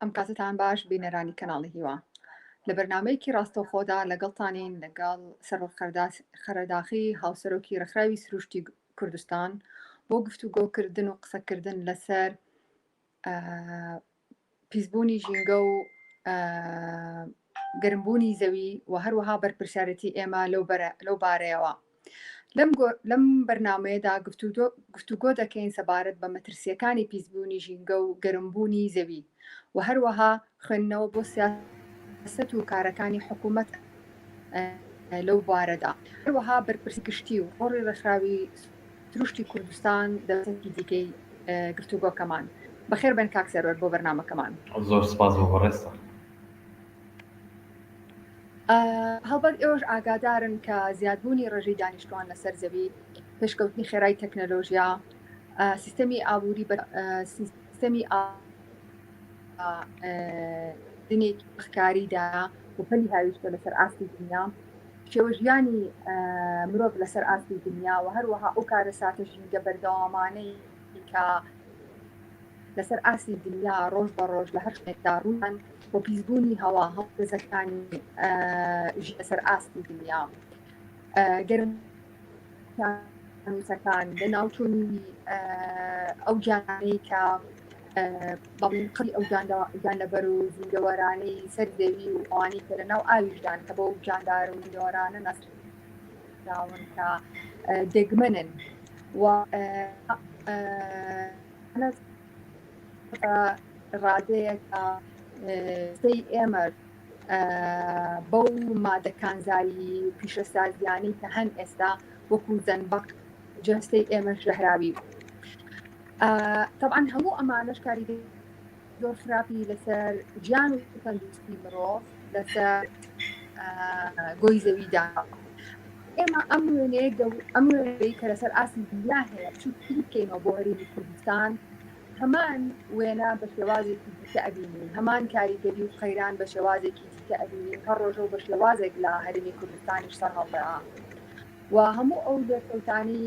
ئەم کاتەتان باش بینەرانی کەناڵی هیوا لە بەرنمەیەکی ڕاستەوخۆدا لەگەڵتانین لەگەڵ سەرۆک خەرەداخی هاوسەرۆکی ڕخراوی سروشتی کوردستان بۆ گفتوگۆکردن و قسەکردن لەسەر پیسبوونی ژینگە و گەرمبوونی زەوی و هەروەها بەرپرسیارێتی ئێمە لەو بارەیەوە. لەم بەرنامەیەدا گفتوگۆ دەکەین سەبارەت بە مەترسییەکانی پیسبوونی ژینگە و گەرمبوونی زەوی و هەروەها خوێندنەوە بۆ سیاسەت و کارەکانی حکوومەت لەو بوارەدا. هەروەها بەرپرسی گشتی و ڕۆڵی ڕێکخراوی سروشتی کوردستان دەبێتێکی دیکەی گفتوگۆکەمان. بەخێربێن کاک سەروەر بۆ بەرنامەکەمان. زۆر سپاس بۆ بەڕێزتان. هەڵبەت ئێوەش ئاگادارن کە زیادبوونی ڕێژەی دانیشتوان لەسەر زەوی پێشکەوتنی خێرای تەکنەلۆژیا سیستەمی ئابووری بە سیستەمی دنێکی بخکاریدا و پەلی هاویشتە لەسەر ئاستی دنیا شێوە ژیانی مرۆڤ لەسەر ئاستی دنیا و هەروەها ئەو کارە ساتە ژینگە بەردەوامانەی کە لەسەر ئاستی دنیا ڕۆژ بە ڕۆژ لە هەر شتێکدا ڕوویان بۆ پیسبوونی هەوا هەڵپێزەکانی ژی لەسەر ئاستی دنیا گەرم نووسەکان لە ناوچوونی ئەو جانەی کە بەڵین قڕی ئەو گیانلەبەر و زیندەوەرانەی سەر دەوی و ئەوانەی کە لە ناو ئاویشدان کە بە و جاندار و زیندەوەرانە ناسراون کە دەگمەنن و ڕادەیە کە سی ئێمەر بەو مادە کانزایی پیشەسازیانەی کە هەن ئێستا وەکو زەنبق جەستەی ئێمە ژەهراوی طبعا هەموو ئەمانەش کاریگەری زۆر خراپی لەسەر گیان و تەندروستی مرۆڤ لەسەر گۆی زەویدا ئێمە ئەم وێنەیە ئەم وێنەی کە لەسەر ئاستی دنیا هەیە چوو بکەینەوە بۆ هەرێمی کوردستان هەمان وێنا بە شێوازێکی دیکە ئەبینین هەمان کاریگەری و قەیران بە شێوازێکی دیکە ئەبینین هەر ڕۆژە و بە شێوازێک لە هەرمی کوردستانیش سەر هەڵدەا و هەموو ئەو لێکەوتانی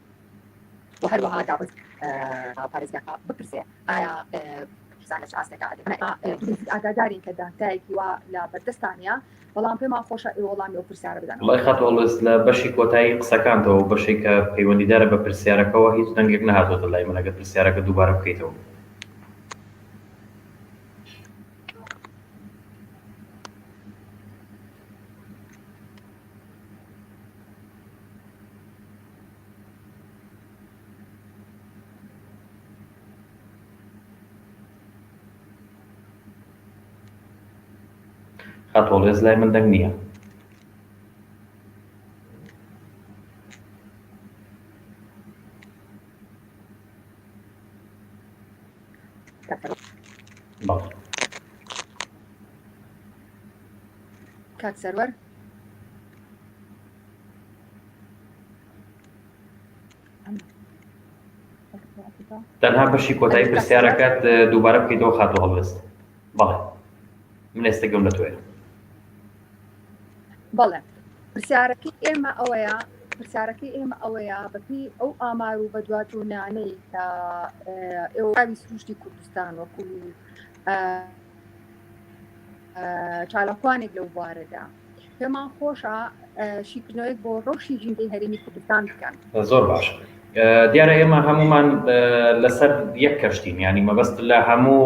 وە هەروەها داوت بە پارێزگاکە بپرسێ ئایا پرسان لە چ ئاستێکا ئەدەن ئاگادارین کە داتایەکی وا لە بەردەستتان نیە بەڵام پێمان خۆشە ئێوە وەڵامی ئەو پرسیارە بدەن وڵای خاتو ئەڵوێس لە بەشی کۆتایی قسەکانتەوە و بەشێک کە پەیوەندیدارە بە پرسیارەکەوە هیچ دەنگێک نەهاتۆتە لای من ئەگەر پرسیارەکە دووبارە بکەیتەوە خاتووەڵێز لای من دەنگ نییە کات سەروەر تەنها بەشی کۆتایی پرسیارەکەت دووبارە بکەیتەوە خاتۆ هەڵبست بەڵێ من ئێستا گەم لە تۆێ بەڵێ پرسیارەکەی ئێمە ئەوەیە پرسیارەکەی ئێمە ئەوەیە بەپی ئەو ئامار و بەدواتونانەی کە ئێوەوی سروشتی کوردستان وەکو چالاکوانێک لەو بوارەدا پێمان خۆشە شیکردنەوەیەک بۆ ڕەوشی ژینگەی هەرێمی کوردستان بکەن زۆر باش دیارە ئێمە هەمومان لەسەر یەک کەشتین ینی مەبەست لە هەموو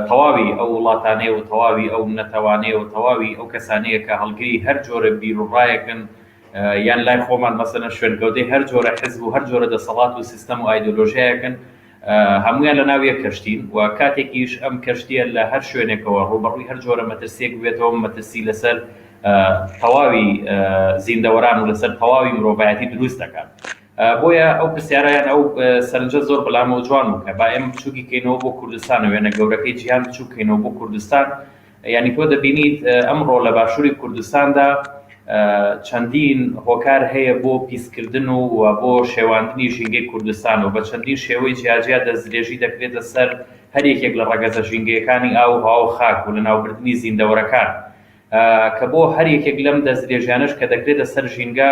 تەواوی ئەو وڵاتانەیە و تەواوی ئەو نەتەوانەیە و تەواوی ئەو کەسانەیە کە هەڵگری هەر جۆرە بیرڕایەکن یان لای خۆمان مەسەنە شوێنکەوتەی هەر جۆرە حزب و هەر جۆرە دەسەڵات و سیستم و ئایدۆلۆژیایەکن هەموویان لە ناو یەک کەشتین و کاتێکیش ئەم کەشتییە لە هەر شوێنێکەوە ڕووبەڕووی هەر جۆرە مەترسییەک ببێتەوە، مەترسی لەسەر تەواوی زیندەوەران و لەسەر تەواوی مرۆڤایەتی دروست دەکات. بۆیە ئەو پرسیارە یان ئەو سەرنجە زۆر بەلامەوە جوان بوو کە با ئێمە بچووکی کەینەوە بۆ کوردستان و وێنە گەورەکەی جیهان بچووک کەینەوە بۆ کوردستان یانی تۆ دەبینیت ئەمڕۆ لە باشووری کوردستاندا چەندین هۆکار هەیە بۆ پیسکردن و بۆ شێواندنی ژینگەی کوردستان و بە چەندین شێوەی جیاجیا دەستدرێژی دەکرێتە سەر هەر یەکێک لە ڕەگەزە ژینگەیەکانی ئاو و هەوا و خاک و لەناوبردنی زیندەوەرەکان کە بۆ هەر یەکێک لەم دەستدرێژیانەش کە دەکرێتە سەر ژینگە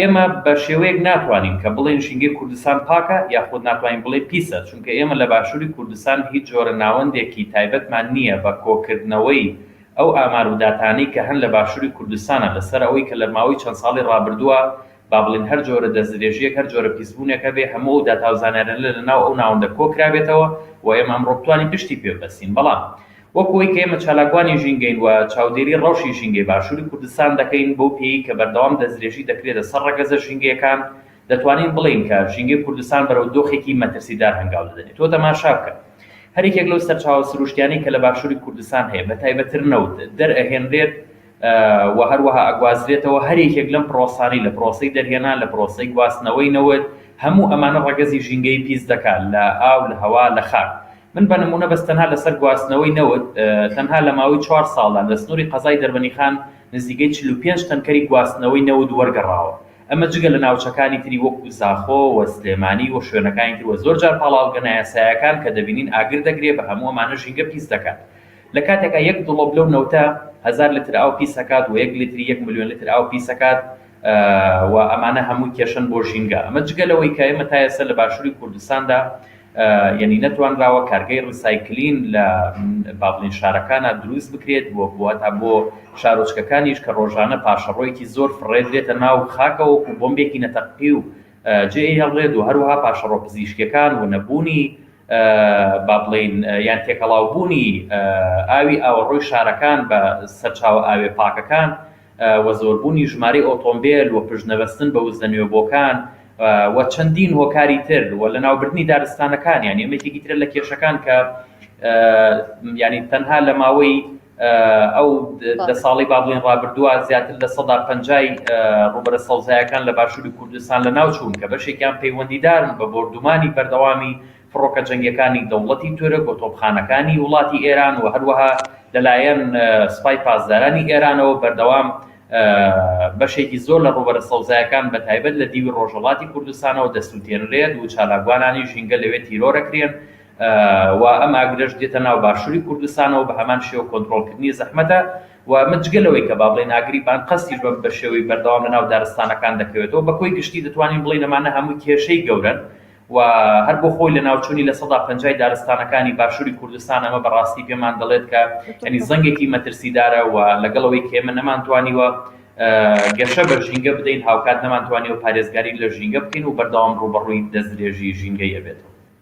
ئێمە بە شێوەیەک ناتوانین کە بڵێین ژینگەی کوردستان پاکە یاخود ناتوانین بڵێین پیسە، چونکە ئێمە لە باشووری کوردستان هیچ جۆرە ناوەندێکی تایبەتمان نییە بە کۆکردنەوەی ئەو ئامار و داتانەی کە هەن لە باشووری کوردستانا لەسەر ئەوەی کە لە ماوەی چەند ساڵی ڕابردووە با بڵێین هەر جۆرە دەستدرێژییەک هەر جۆرە پیسبوونێک هەبێ هەموو ئەو داتا و زانیاریانە لە ناو ئەو ناوەندە کۆکرابێتەوە و ئێمە ئەمڕۆ بتوانین پشتی پێ ببەستین بەڵام وەک ئەوەی کە ئێمە چالاکوانی ژینگەین و چاودێری ڕەوشی ژینگەی باشووری کوردستان دەکەین، بەو پێیەی کە بەردەوام دەستدرێژی دەکرێتە سەر ڕەگەزە ژینگەیەکان، دەتوانین بڵێین کە ژینگەی کوردستان بەرەو دۆخێکی مەترسیدار هەنگاو دەدەنێت. تۆ تەماشا بکە، هەر یەکێک لەو سەرچاوە سروشتیانەی کە لە باشووری کوردستان هەیە، بەتایبەتر نەوت، دەرئەهێنرێت و هەروەها ئەگوازرێتەوە هەر یەکێک لەم پرۆسانەی لە پرۆسەی دەرهێنان، لە پرۆسەی گواستنەوەی نەوت، هەموو ئەمانە ڕەگەزی ژینگەیی پیس دەکات لە ئاو، لە هەوا، لە خاک. من بە نموونە بەس تەنها لەسەر گواستنەوەی نەوت تەنها لە ماوەی چوار ساڵدا لە سنووری قەزای دەربەنیخان نزیکەی چل و پێنج تەنکەری گواستنەوەی نەوت وەرگەڕاوە، ئەمە جگە لە ناوچەکانی تری وەکو زاخۆ و سلێمانی و شوێنەکانی تر و زۆر جار پاڵاوگە نایاسایەکان کە دەبینین ئاگر دەگرێ، بە هەموو ئەمانە ژینگە پیس دەکات. لە کاتێکا یەک دڵۆپ لەو نەوتە هەزار لتر ئاو پیس ئەکات وە یەک لتری یەک ملیۆن لتر ئاو پیس ئەکات و ئەمانە هەمووی کێشەن بۆ ژینگە ئەمە جگە لەوەی کە ئێمە تا ئێستا لە باشوری کوردستاندا یەنی نەتوانراوە کارگەی ڕیسایکلین لە باڤلین شارەکانا دروست بکرێت وە هەتا بۆ شارۆچکەکانیش کە ڕۆژانە پاشەڕۆیەکی زۆر فڕێدرێتە ناو خاکەوە وەکو بۆمبێکی نەتەققی و جێ ئەیهەڵرێت و هەروەها پاشەڕۆ پزیشکیەکان و نەبوونی با بڵێین یان تێکەڵاوبوونی ئاوی ئاوەڕۆی شارەکان بە سەرچاوە ئاوێ پاکەکان و زۆربوونی ژمارەی ئۆتۆمبێل و پشت نەبەستن بە وزە نوێبۆکان و چەندین هۆکاری تر و لەناوبردنی دارستانەکان یان یەکێکی ترە لە کێشەکان کە یانی تەنها لە ماوەی ئەو دە ساڵەی با بڵێین ڕابردووە زیاتر لە سەدا پەنجای ڕووبەرە سەوزایەکان لە باشووری کوردستان لە ناوچوون کە بەشێکیان پەیوەندیدارن بە بۆردومانی بەردەوامی فڕۆکە جەنگیەکانی دەوڵەتی تورک و تۆپخانەکانی وڵاتی ئێران و هەروەها لەلایەن سپای پاسدارانی ئێرانەوە بەردەوام بەشێکی زۆر لە ڕووبەرە سەوزایەکان بە تایبەت لە دیوی ڕۆژەڵاتی کوردستانەوە دەسووتێنرێت و چالاکوانانی ژینگە لەوێ تیرۆرەکرێن و ئەم ئاگرەش دێتە ناو باشووری کوردستانەوە، بە هەمان شێوە کۆنترۆڵکردنی زەحمەتە و ئەمە جگە لەوەی کە با بڵێین ئاگری بانقەستیش بە بە شێوەی بەردەوام لە ناو دارستانەکان دەکەوێتەوە، بە کۆی گشتی دەتوانین بڵێین ئەمانە هەمووی کێشەی گەورەن و هەر بۆ خۆی لەناوچوونی لە سەدا پەنجای دارستانەکانی باشووری کوردستان ئەمە بە ڕاستی پێمان دەڵێت کە یانی زەنگێکی مەترسیدارە و لەگەڵ ئەوەی کە ئێمە نەمانتوانیوە گەشە بە ژینگە بدەین هاوکات نەمانتوانیوە پارێزگاری لە ژینگە بکەین و بەردەوام ڕووبەڕووی دەستدرێژی ژینگەی ئەبێتەوە.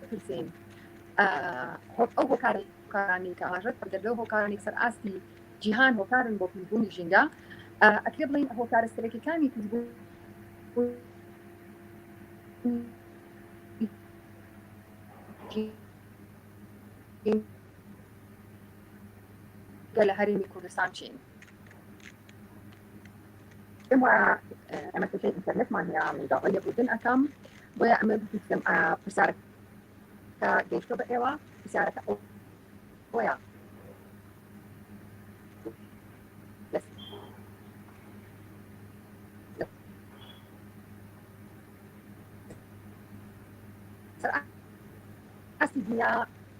بپرسین ئەو هۆکارە هۆکارانی کە ئاماژەت بە دەردە هۆکارانی سەر ئاستی جیهان هۆکارن بۆ پیسبوونی ژینگە ئەکرێ بڵین هۆکارە سەرەکیەکانی پیسبوون لە هەرێمی کوردستان چین پێم وایە ئەمە کێشەی ئینتەرنێتمان هەیە من داوای لێبوردن ئەکەم بۆیە ئەمە بزی بکەم پرسیارە کە گەیشتۆ بە ئێوە پرسیارەکە ئەو بۆیە ئەستی دنیا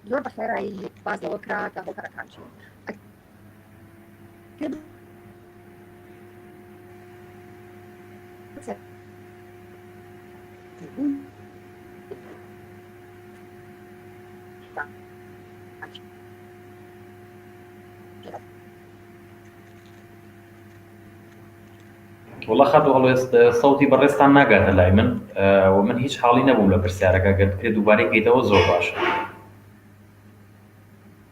زۆر بە خێرایی باز لەوە کرا کە هۆکارەکان چین وڵە خەت هەڵێست سەوتی بەڕێستان ناگاتە لای من و من هیچ حاڵی نەبووم لە پرسیارەکە گەر بکرێت دووبارەی کەیتەوە زۆر باشە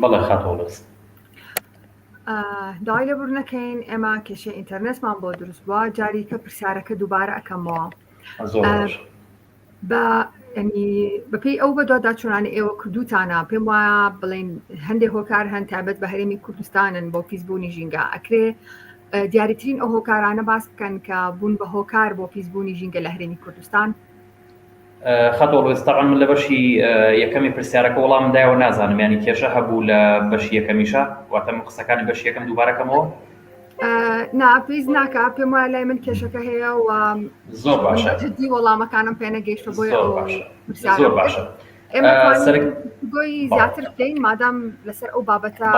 بەڵێ خاتۆ بەس داوای لێبور نەکەین ئێمە کێشەی ئینتەرنێتمان بۆ دروست بووە جاریکە پرسیارەکە دووبارە ئەکەمەوە بە ینی بەپی ئەو بە دوواداچوانە ئێوە کردوتانە پێم وایە بڵین هەندێک هۆکار هەن تابەت بە هەرێمی کوردستانن بۆ پیسبوونی ژینگە ئەکرێ دیاریترین ئەو هۆکارانە باس بکەن کە بوون بە هۆکار بۆ پیسبوونی ژینگە لە هەرێمی کوردستان خەتۆ ڕێز تەبعەن من لە بەشی یەکەمی پرسیارەکە وەڵامم دایەوە نازانم یانی کێشە هەبوو لە بەشی یەکەمیشە واتە من قسەکانی بەشی یەکەم دووبارەکەمەوە نا پێیز ناکە پێم وایە لای من کێشەکە هەیە و زۆر باشە جدی وەڵامەکانم پێ نەگەیشتە بۆی زۆر باشە زۆر باشە مادام لەسەر ئەو بابەتە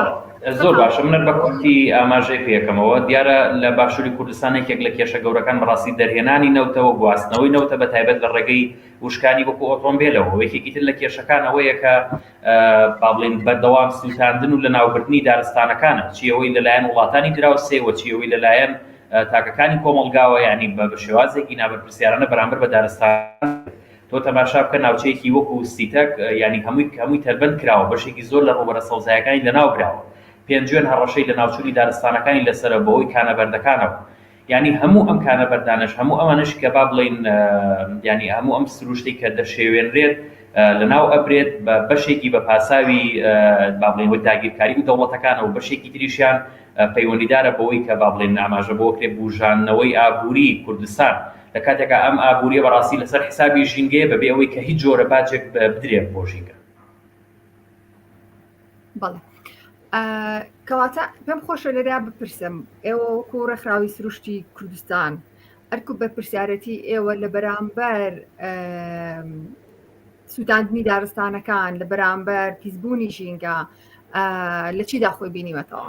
زۆر باشە منەر بە کورتی ئاماژەی پێەکەمەوە دیارە لە باشووری کوردستانێکێک لە کێشە گەورەکان بەڕاستی دەرهێنانی نەوتەوە گواستنەوەی نەوتە بە تایبەت لە ڕێگەی وشکانی وەکو ئۆتۆمبیلەوە یەکێکی تر لە کێشەکانەوەیە کە بابلین بەردەوام سووتاندن و لە ناوبردنی دارستانەکانە چیەوەی لەلایەن وڵاتانی دراوسێوە چیەوەی لەلایەن تاکەکانی کۆمەلگاوە ینی بە شێوازێکی نابەرپسیارانە بەرامبەر بە دارستان تۆ تەماشا بکە ناوچەیەکی وەکو سیتەک یانی هەمووی هەمووی تەربەند کراوە بەشێکی زۆر لە ڕووبەرە سەوزایەکانی لەناو براوە پێنجوێن هەڕەشەی لەناوچوونی دارستانەکانی لەسەرە بەهۆی کانە بەردەکانەوە یانی هەموو ئەم کانە بەردانەش هەموو ئەمانەش کە با بڵێین یانی هەموو ئەم سروشتی کە دەشێوێنرێت لەناو ئەبرێت بە بەشێکی بە پاساوی با بڵێن وەک داگیرکاری و دەوڵەتەکانەوە بەشێکی تریشیان پەیوەندیدارە بەوەی کە با بڵێن ئاماژە بۆ کرێ بوژاندنەوەی ئابووری کوردستان لە کاتێکا ئەم ئابوورییە بەڕاستی لەسەر حسابی ژینگەیە بەبێ ئەوەی کە هیچ جۆرە باجێک بدرێت بۆ ژینگە. بەڵێ کەواتە پێم خۆشە لەرا بپرسم ئێوە وەکو ڕێکخراوی سروشتی کوردستان ئەرکو بە پرسیارەتی ئێوە لە بەرامبەر سووتاندنی دارستانەکان لە بەرامبەر پیسبوونی ژینگە لە چیدا خۆی بینیوەتەوە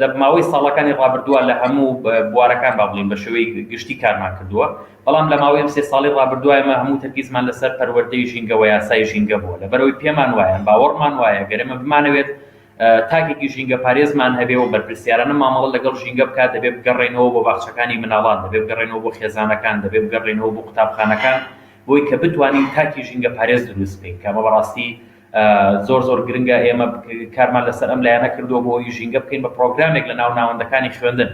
لە ماوەی ساڵەکانی ڕابردووە لە هەموو بوارەکان با بڵێین بە شێوەی گشتی کارمان کردووە، بەڵام لە ماوەی ئەم سێ ساڵەی ڕابردووە ئێمە هەموو تەرکیزمان لەسەر پەروەردەی ژینگە و یاسای ژینگە بووە، لەبەرئەوەی پێمان وایە، باوەڕمان وایە گەر ئێمە بمانەوێت تاکێکی ژینگەپارێزمان هەبێ و بەرپرسیارانە مامەڵە لەگەڵ ژینگە بکات، دەبێ بگەڕێینەوە بۆ باخچەکانی منداڵان، دەبێ بگەڕێینەوە بۆ خێزانەکان، دەبێ بگەڕێینەوە بۆ قوتابخانەکان بۆی کە بتوانین تاکی ژینگەپارێز دروست بکەین کە ئەمە بەڕاستی زۆر زۆر گرنگە ئێمە کارمان لەسەر ئەم لایەنە کردووە بۆ ئەوەی ژینگە بکەین بە پرۆگرامێک لە ناو ناوەندەکانی خوێندن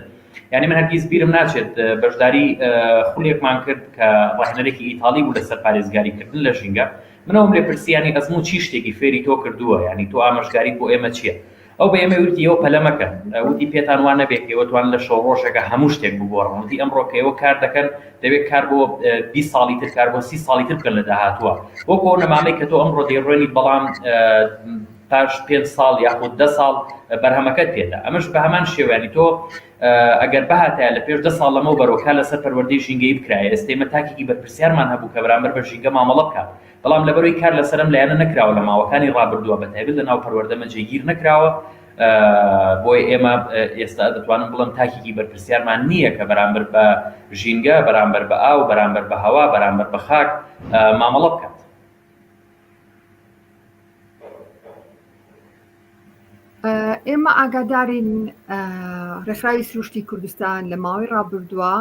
یعنی من هەرگیز بیرم ناچێت بەشداری خولێکمان کرد کە ڕاهێنەرێکی ئیتاڵی بوو لەسەر پارێزگاری کردن لە ژینگە منەوەم لێ پرسیانی ئەزموو چی شتێکی فێری تۆ کردووە یعنی تۆ ئامۆژگاریت بۆ ئێمە چییە ئەو بە ئێمەی وتی، ئێوە پەلە مەکەن. وتی، پێتان وا نەبێ کە ئێوە توانن لە شەوڕۆژێکا هەموو شتێک بگۆڕن. وتی، ئەمڕۆ کە ئێوە کار دەکەن، دەبێ کار بۆ بیست ساڵی تر، کار بۆ سی ساڵی تر بکەن لە داهاتووا. وەکو ئەو نەمامەی کە تۆ ئەمڕۆ دەیڕوێنیت، بەڵام پاش پێنج ساڵ یاخود دە ساڵ بەرهەمەکەت پێتە. ئەمەش بە هەمان شێوە، یانی تۆ ئەگەر بهاتایە لە پێش دە ساڵ لەمەوبەرەوە کار لەسەر پەروەردەی ژینگەیی بکرایە، ئێستە ئێمە تاکێکی بەرپرسیارمان هەبوو کە بەرامبەر بە ژینگە مامەڵە بکات. بەڵام لەبەرەوەی کار لەسەر ئەم لایەنە نەکراوە لە ماوەکانی ڕابردووە بە تایبەت لەناو پەروەردەمە جێگیر نەکراوە بۆی ئێمە ئێستا دەتوانم بڵم تاکێکی بەرپرسیارمان نییە کە بەرامبەر بە ژینگە بەرامبەر بە ئاو بەرامبەر بە هەوا بەرامبەر بە خاک مامەڵە بکات ئێمە ئاگادارین ڕێکخراوی سروشتی کوردستان لە ماوەی ڕابردووە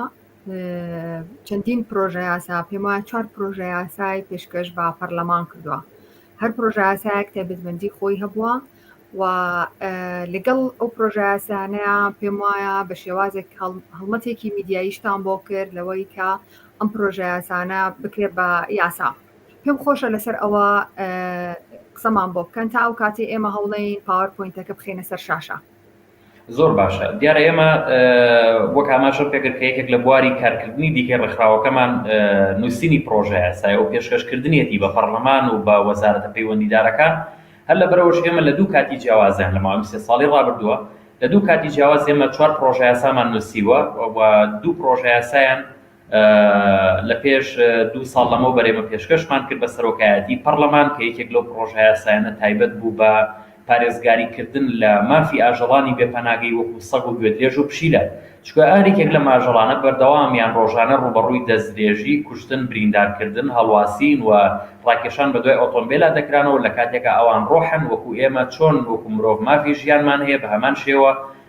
چەندین پرۆژە یاسا پێم وایە چوار پرۆژە یاسای پێشکەش بە پەرلەمان کردووە هەر پرۆژە یاسایەک تایبەتمەندی خۆی هەبووە و لەگەڵ ئەو پرۆژە یاسانەیە پێم وایە بە شێوازێک هەڵمەتێکی میدیاییشتان بۆ کرد لەوەی کە ئەم پرۆژە یاسانە بکرێت بە یاسا پێم خۆشە لەسەر ئەوە قسەمان بۆ بکەن تا ئەو کاتی ئێمە هەوڵین پاوەرپۆینتەکە بخینە سەر شاشە زۆر باشە. دیارە ئێمە وەک ئاماژەم پێکرد کە یەکێک لە بواری کارکردنی دیکەی ڕێکخراوەکەمان نووسینی پڕۆژە یاسایە و پێشکەشکردنیەتی بە پەڕڵەمان و بە وەزارەتە پەیوەندیدارەکان، هەر لەبەرئەوەش ئێمە لە دوو کاتی جیاوازیان لە ماوەی ئەم سێ ساڵی ڕابردووە لە دوو کاتی جیاواز ئێمە چوار پڕۆژە یاسامان نووسیوە و دوو پڕۆژە یاسایان لە پێش دوو ساڵ لەمەو بەر ئێمە پێشکەشمان کرد بە سەرۆکایەتیی پەڕڵەمان کە یەکێک لەو پڕۆژەیاسایانە تایبەت بوو بە پارێزگاریکردن لە مافی ئاژەڵانی بێ پەناگەی وەکوو سەگ و گوێدرێژ و پشیلە، چونکە ئاریکێک لەم ئاژەڵانە بەردەوام یان ڕۆژانە ڕووبەڕووی دەستدرێژی، کوشتن، بریندارکردن، هەڵواسین و ڕاکێشان بە دوای ئۆتۆمبێلا دەکرانەوە، لە کاتێکا ئەوان ڕۆحن وەکوو ئێمە، چۆن وەکوو مرۆڤ مافی ژیانمان هەیە، بە هەمان شێوە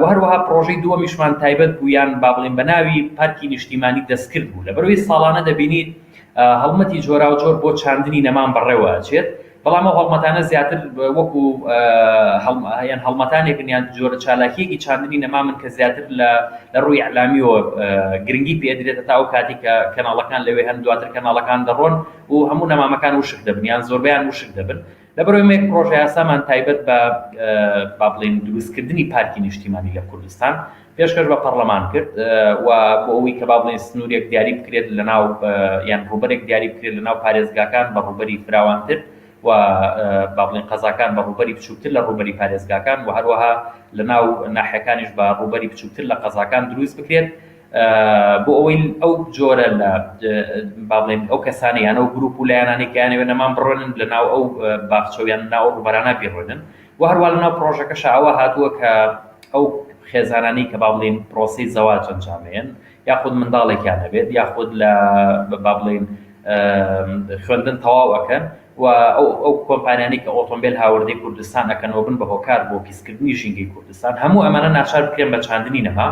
و هەروەها پڕۆژەی دووەمیشمان تایبەت بوو یان با بڵێین بە ناوی پارکی نیشتیمانی دەستکرد بوو، لەبەرئەوەی ساڵانە دەبینیت هەڵمەتی جۆراوجۆر بۆ چاندنی نەمان بەڕێوە ئەچێت، بەڵام ئەو هەڵمەتانە زیاتر وەکو یان هەڵمەتانێکن یان جۆرە چالاکییەکی چاندنی نەمامن کە زیاتر لە لە ڕووی ئیعلامیەوە گرنگی پێ ئەدرێت هەتا ئەو کاتی کە کەناڵەکان لەوێ هەن، دواتر کەناڵەکان دەڕۆن و هەموو نەمامەکان وشک دەبن یان زۆربەیان وشک دەبن. لە بەرەوەی مەیەک پڕۆژەیاسامان تایبەت بە با بڵێین دروستکردنی پارکی نیشتیمانی لە کوردستان پێشکەش بە پەڕلەمان کرد و بۆ ئەوەی کە با بڵێین سنوورێک دیاری بکرێت لەناو یان ڕووبەرێک دیاری بکرێت لەناو پارێزگاکان بە ڕووبەری فراوانتر و با بڵێین قەزاکان بە ڕووبەری بچووکتر لە ڕووبەری پارێزگاکان و هەروەها لەناو ناحیەکانیش بە ڕووبەری بچووکتر لە قەزاکان دروست بکرێت بۆ ئەوەی ئەو جۆرە لە با بڵێن ئەو کەسانە یان ئەو گروپ و لایەنانەی کە یانەوێت نەمان بڕۆنن لە ناو ئەو باخچە و یان ناو ڕووبەرانە بیڕۆنن و هەروە لە ناو پرۆژەکەش ئەوە هاتووە کە ئەو خێزانانی کە با بڵێن پرۆسی زەواج ئەنجامێن یاخود منداڵێکیان نەبێت یاخود لە با بڵێن خوێندن تەواو ئەکەن و ئەو ئەو کۆمپانیانی کە ئۆتۆمبیل هاوردەی کوردستان ئەکەنەوە بن بە هۆکار بۆ پیسکردنی ژینگەی کوردستان هەموو ئەمانە ناچار بکرێن بە چاندنی نەما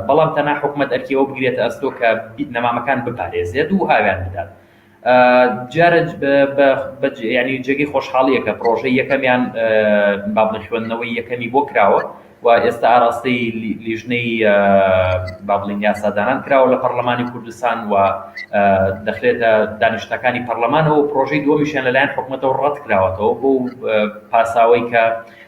بەڵام تەنها حکومەت ئەرکی ئەوە بگرێتە ئەستۆ کە نەمامەکان بپارێزێت و ئاویان بدات. دیارە جێگەی خۆشحاڵییە کە پڕۆژەی یەکەمیان با بڵێین خوێندنەوەی یەکەمی بۆ کراوە و ئێستا ئاراستەی لیژنەی با بڵێین یاسادانان کراوە لە پەرلەمانی کوردستان و دەخرێتە دانیشتنەکانی پەرلەمانەوە و پڕۆژەی دووەمیشیان لەلایەن حکومەتەوە ڕەت کراوەتەوە بۆ پاساوەی کە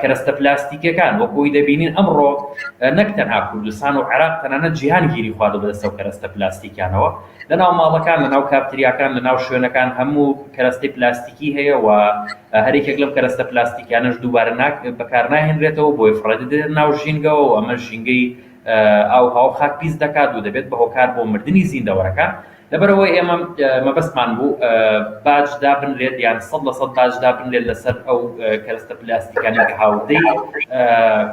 کەرەستە پلاستیکیەکان وەک ئەوەی دەبینین ئەمڕۆ نەک تەنها کوردستان و عێراق تەنانەت جیهان گیری خواردە بەدەستە و کەرەستە پلاستیکیانەوە لەناو ماڵەکان لەناو کافتریاکان لەناو شوێنەکان هەموو کەرەستەی پلاستیکی هەیە و هەرێکێک لەم کەرەستە پلاستیکیانەش دووبارە ناک بەکار ناهێنرێتەوە بۆی فڕێدەدرێت ناو ژینگەوە و ئەمە ژینگەی ئاو هاو خاک پیس دەکات و دەبێت بە هۆکار بۆ مردنی زیندەوەرەکان لەبەرئەوەی ئێمە مەبەستمان بوو باج دابنرێت یان سەد لە سەد باج دابنرێت لەسەر ئەو کەرستە پلاستیکانە کە هاوردەی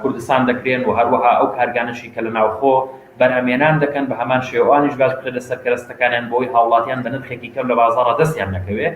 کوردستان دەکرێن و هەروەها ئەو کارگانەشی کە لە ناوخۆ بەرهەمێنان دەکەن بە هەمان شێوانیش باج بکرێت لەسەر کەرستەکانیان بۆی هاوڵاتیان بە نرخێکی کەم لە بازاڕە دەستیان نەکەوێت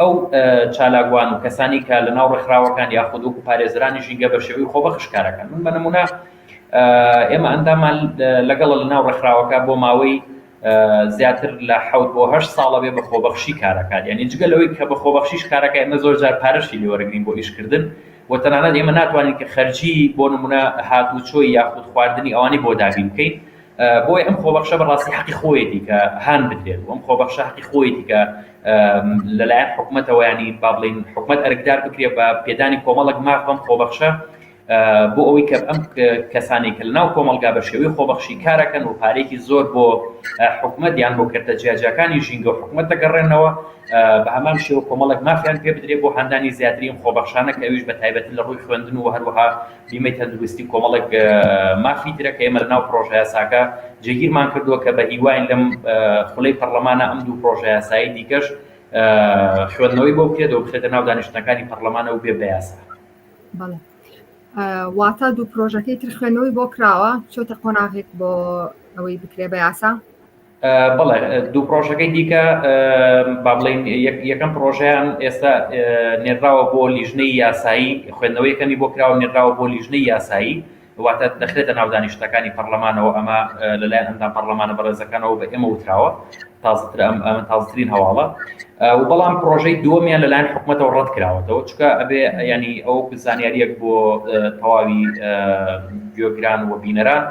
ئەو چالاکوان و کەسانی کە لە ناو ڕێکخراوەکان یاخود وەکو پارێزەرانی ژینگە بە شێوەی خۆبەخش کارەکەن من بە نمونە ئێمە ئەندامان لەگەڵ لە ناو ڕێکخراوەکە بۆ ماوەی زیاتر لە حوت بۆ هەشت ساڵە بێ بە خۆبەخشی کارەکات یعنی جگە لەوەی کە بە خۆبەخشیش کارەکە ئێمە زۆر جار پارەشی لێوەرەگرین بۆ ئیشکردن و تەنانەت ئێمە ناتوانین کە خەرجی بۆ نمونە هاتوچۆی یاخود خواردنی ئەوانی بۆ دابین بکەین بۆی ئەم خۆبەخشە بەڕاستی حەقی خۆیەتی کە هان بدرێت ئەم خۆبەخشە حەقی خۆیەتی کە لەلایەن حکومەتەوە ینی با بڵین حکومەت ئەرکدار بکرێ بە پێدانی کۆمەڵک ماف بەم خۆبەخشە بۆ ئەوەی کە ئەم کەسانی کە لەناو کۆمەلگا بە شێوەی خۆبەخشی کارەکەن و پارێکی زۆر بۆ حکومت یان بۆ کردە جیاجاکانی ژینگە و حکومت دەگەڕێنەوە بە هەمان شێوە کۆمەڵک مافیان پێ بدرێت بۆ هاندانی زیاترین خۆبەخشانە کەویش بە تایبەتی لە ڕووی خوێندن و هەروەها بیمەی تەندروستی و کۆمەڵێک مافی ترە کە ئێمە لەناو پڕۆژەیاساکە جێگیرمان کردووە کە بە هیواین لەم خولەی پەرلەمانە ئەم دوو پڕۆژەیاسایی دیکەش خوێندنەوەی بۆ بکرێت و بخێتە ناو دانیشتنەکانی پەرلەمانە و بێ بەیاسا واتا دوو پرۆژەکەی تر خوێنەوەی بۆ کراوە چۆتە قۆناغێک بۆ ئەوەی بکرێ بە یاسا بەڵێ دوو پرۆژەکەی دیکە با بڵێن یەکەم پرۆژیان ئێستا نێراوە بۆ لیژنەی یاسایی خوێندنەوەی کەمی بۆ کراوە نێراوە بۆ لیژنەی یاسایی واتە دەخرێتە ناودانی شتەکانی پەرلەمانەوە ئەمە لەلایەن ئەندام پەرلەمانە بەڕێزەکانەوە بە ئێمە وتراوە تازتر ئەم ئەمە تازترین هەواڵە و بەڵام پرۆژەی دووەمیان لەلایەن حکوومەتەوە ڕەت کراوەتەوە چکە ئەبێ ینی ئەو زانیاریەک بۆ تەواوی گوێگران و بینەران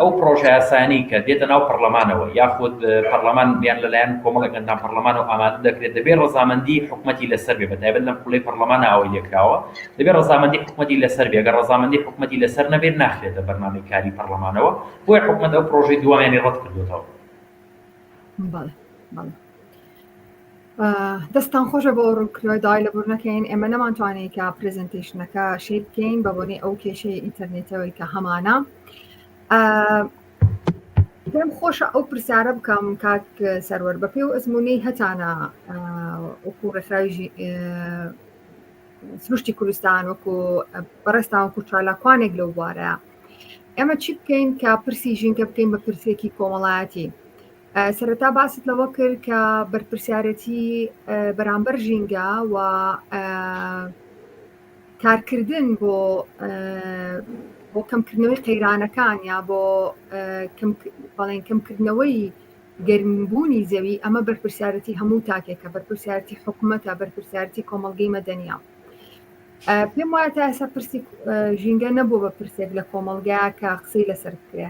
ئەو پڕۆژەیاسایانەی کە دێتە ناو پەڕلەمانەوە یاخود پەڕلەمان یان لەلایەن کۆمەڵێک ئەندام پەڕلەمانەوە ئامادە دەکرێت، دەبێت ڕەزامەندیی حکومەتی لەسەر بێت، بەتایبەت لەم خولەی پەڕلەمانا ئەوەی لێکراوە، دەبێت ڕەزامەندیی حکومەتی لەسەر بێت، گەر ڕەزامەندیی حکومەتی لەسەر نەبێت ناخرێتە بەرنامەی کاری پەڕلەمانەوە، بۆیە حکومەت ئەو پڕۆژەی دووەمیانی ڕەتکردۆتەوە. بەڵێ بەڵێ دەستان خۆشە بۆ ڕووکرۆی دای لە بور نەکەین ئێمە نەمانتوانێت کە پرزنتیشنەکە شی بکەین بە بۆنی ئەو کێشەی ئینتەرنێتەوەی کە هەمانە پێم خۆشە ئەو پرسیارە بکەم کاک سەروەر بە پێی و ئەزمموی هەتانە وەکو ڕێکخراوی سروشتی کوردستان وەکو بەڕێستان وەکو چالاکوانێک لەو بوارەیە ئێمە چی بکەین کە پرسی ژینکە بکەین بە پرسێکی کۆمەڵایەتی سەرەتا باست لەوە کرد کە بەرپرسیارەتی بەرامبەر ژینگە و کارکردن بۆ بۆ کەمکردنەوەی قەیرانەکان یا بۆ بەڵێن کەمکردنەوەی گەرمبوونی زەوی ئەمە بەرپرسیارەتی هەموو تاکێکە بەرپرسیارەتی حکوومەتە بەرپرسیارەتی کۆمەلگەی مەدەنیا پێم وایە تا ئێستا پرسی ژینگە نەبوو بە پرسێک لە کۆمەلگا کە قسەی لەسەر بکرێ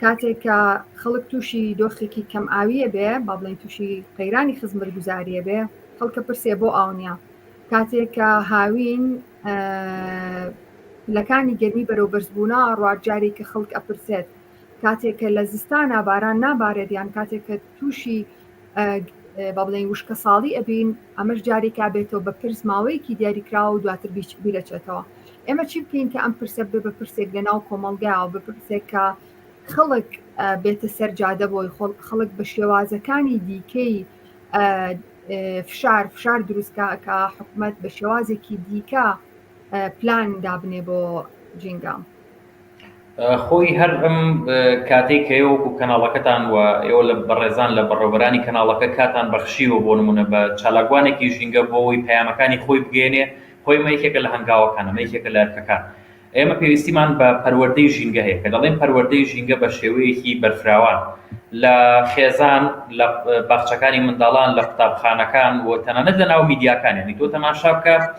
کاتێک کە خەڵک تووشی دۆخێکی کەم ئاویە بێ با بڵێن تووشی قەیرانی خزمەت گوزاریە بێ خەڵکە پرسێ بۆ ئاونیا کاتێک کە هاوین لەکانی گەرمی بەرەو بەرزبوونا ڕواجارێک کە خەڵک ئەپرسێت کاتێکە لە زستانە باران نابارێت یان کاتێکە تووشی بابلین وشکە ساڵی ئەبین ئەمەش جارێکا بێتەوە بە پرس ماوەیەکی دیاریکراوە و دواتر بیرەچێتەوە ئێمە چی بکەین کە ئەم پرسە بێ بە پرسێک لە ناو کۆمەلگاوە بە پرسێک کە خەڵک بێتە سەر جادە بۆی خۆڵ خەڵک بە شێوازەکانی دیکەی فشار فشار دروستکە کە حکوومەت بە شێوازێکی دیکە پلان دابنێ بۆ جینگام. خۆی هەر ئەم کاتەی کە ئێوە وەکو کەناڵەکەتان و ئێوە لە بەڕێزان لە بەڕێوەبەرانی کەناڵەکە کاتان بەخشیوە بۆ نموونە بە چالاکوانێکی ژینگە بۆ ئەوەی پەیامەکانی خۆی بگەیەنێ خۆی ئەمە یەکێکە لە هەنگاوەکان ئەمە یەکێکە لە ئەرکەکان ئێمە پێویستیمان بە پەروەردەی ژینگە هەیە کە دەڵێن پەروەردەی ژینگە بە شێوەیەکی بەرفراوان لە خێزان لە باخچەکانی منداڵان لە قوتابخانەکان و تەنانەت لە ناو میدیاکان یانی تۆ تەماشا بکە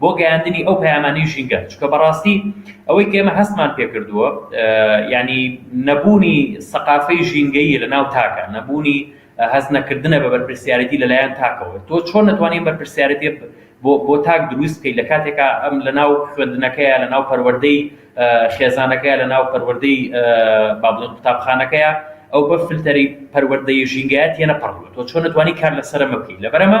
بۆ گەیاندنی ئەو پەیامانەی ژینگە، چونکە بەڕاستی ئەوەی کە ئێمە هەستمان پێ کردووە یانی نەبوونی سەقافەی ژینگەیی لە ناو تاکە، نەبوونی هەست نەکردنە بە بەرپرسیارێتی لە لایەن تاکەوە، تۆ چۆن نەتوانی ئەم بەرپرسیارێتیە بۆ بۆ تاک درووست بکەی لە کاتێکا ئەم لە ناو خوێندنەکەیە لە ناو پەروەردەی خێزانەکەیە لە ناو پەروەردەی با بڵێن قوتابخانەکەیە ئەو بە فلتەری پەروەردەی ژینگەیە تێنەپەڕیوە، تۆ چۆن نەتوانی کار لەسەر ئەمە بکەی لەبەر ئەمە